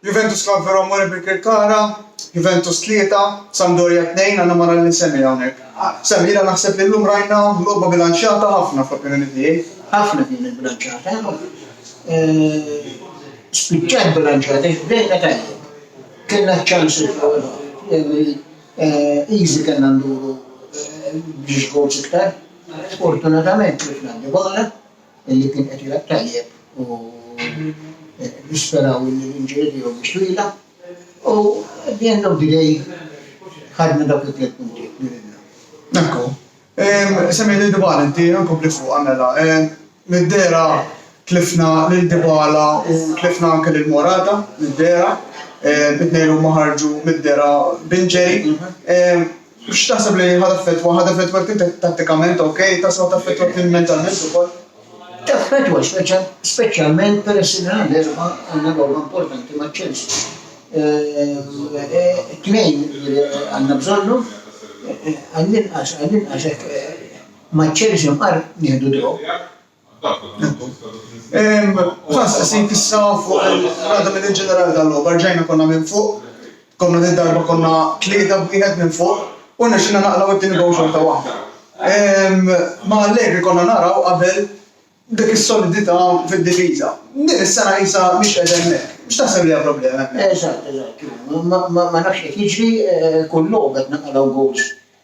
Juventus Club Veromore Birkirkara, Juventus tlieta, Sampdoria tnejn, għandna ma nagħlli Sammy hawnhekk. Sammy, jiena naħseb li llum rajna logħba bilanċjata ħafna fl-opinjoni tiegħi. Ħafna kienet bilanċjata. Spiċċat bilanċjata, bdejna tajjeb. Kellna ċ-ċansi fl-ewwel ħof, easy kellna nduru biex goals iktar. Sfortunatament tlifna Dybala. li kien qed jilgħab tajjeb u nisperaw li l-injury tiegħu mhix twila. U at the end of the day ħadna dawk it-tliet punti li ridna. Ekku. Semmi lil Dybala inti nkompli fuqha mela. Mid-dehra tlifna lil Dybala u tlifna anke lil Morata mid-dehra. It-tnejn huma ħarġu mid-dehra b'injury. X'taħseb li ħa taffettwa? Ħa taffettwak int tattikament, ok? Taħseb ħa taffettwak int mentalment ukoll? Taffettwa, speċjalment peress li nhar l-Erbgħa għandna logħba importanti ma' Chelsea. Tnejn għandna bżonnhom, għall-inqas għall-inqas hekk ma' Chelsea mqar nieħdu draw. F'dan stqsejt issa fuq il-Rada Medin Ġenerali tal-logħba, rġajna konna minn fuq, konna din darba konna tlieta b'wieħed minn fuq u rnexxilna naqlaw it-tieni gowl xorta waħda. Ma' Allegri konna naraw qabel dik is-solidità fid-difiża. Din is-sena qisha mhix qiegħda hemmhekk. X'taħseb li hija problema hemmhekk? Eżatt, eżatt. Ma nafx qed jiġri, kull logħba qed naqalgħu gowls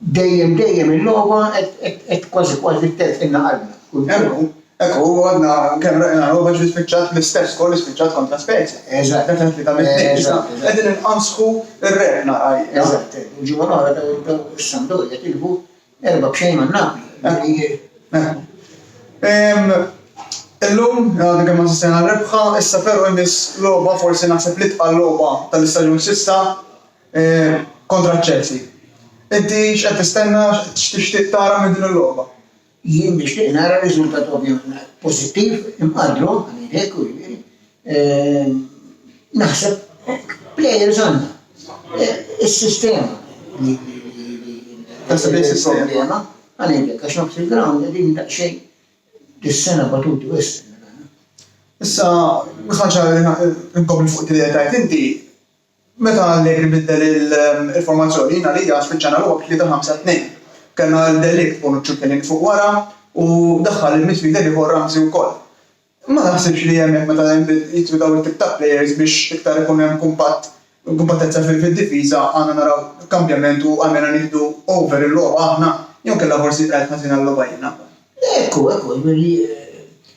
Dejjem dejjem il-logħba qed kważi kważi telqilna qalbna. Kultant. Hekk hu, għadna kemm rajna logħba ġiet spiċċat bl-istess goal li spiċċat kontra Spezia. Eżatt. Meta tlieta minn tnejn issa qegħdin inqanżħu r-rebħna għalina. Eżatt. Il-ġimgħa l-oħra dawn is-Sampdoria tilfu erba' b'xejn ma' Napoli. Hekk hu. Illum, għadna kemm assistejna għal rebħa, issa però jmiss logħba forsi naħseb l-itqal logħba tal-istaġun s'issa. kontra ċ-Chelsea. Inti x'qed tistenna, x'tixtieq tara minn din il-logħba? Jien nixtieq nara riżultat ovvjament pożittiv, imqaddru, ngħidlek, u jiġifieri, ehm, naħseb plejers għandna. Is-sistema li Taħseb li s-sistema? Għalhekk, għax nofs il-ground qegħdin daqsxejn dis-sena batuti wisq. Issa, ħaġa li nkompli fuq id-dinja tajt inti, Meta Allegri biddel il-formazzjoni, jien għalija spiċċajna logħob tlieta-ħamsa-tnejn. Kellna lil De Ligt, Bonucci u Chiellini fuq wara u daħħal il-midfielder ieħor Ramsey wkoll. Ma taħsibx li hemmhekk meta jidħlu dawn it-tip-ta' players biex iktar ikun hemm kumpatt, kumpattezza fid-difiża għandna naraw kambjament u għalmenu nieħdu over il-logħba aħna jew inkella forsi qgħid ħażin għal-logħba jiena? Ekku, ekku, jiġifieri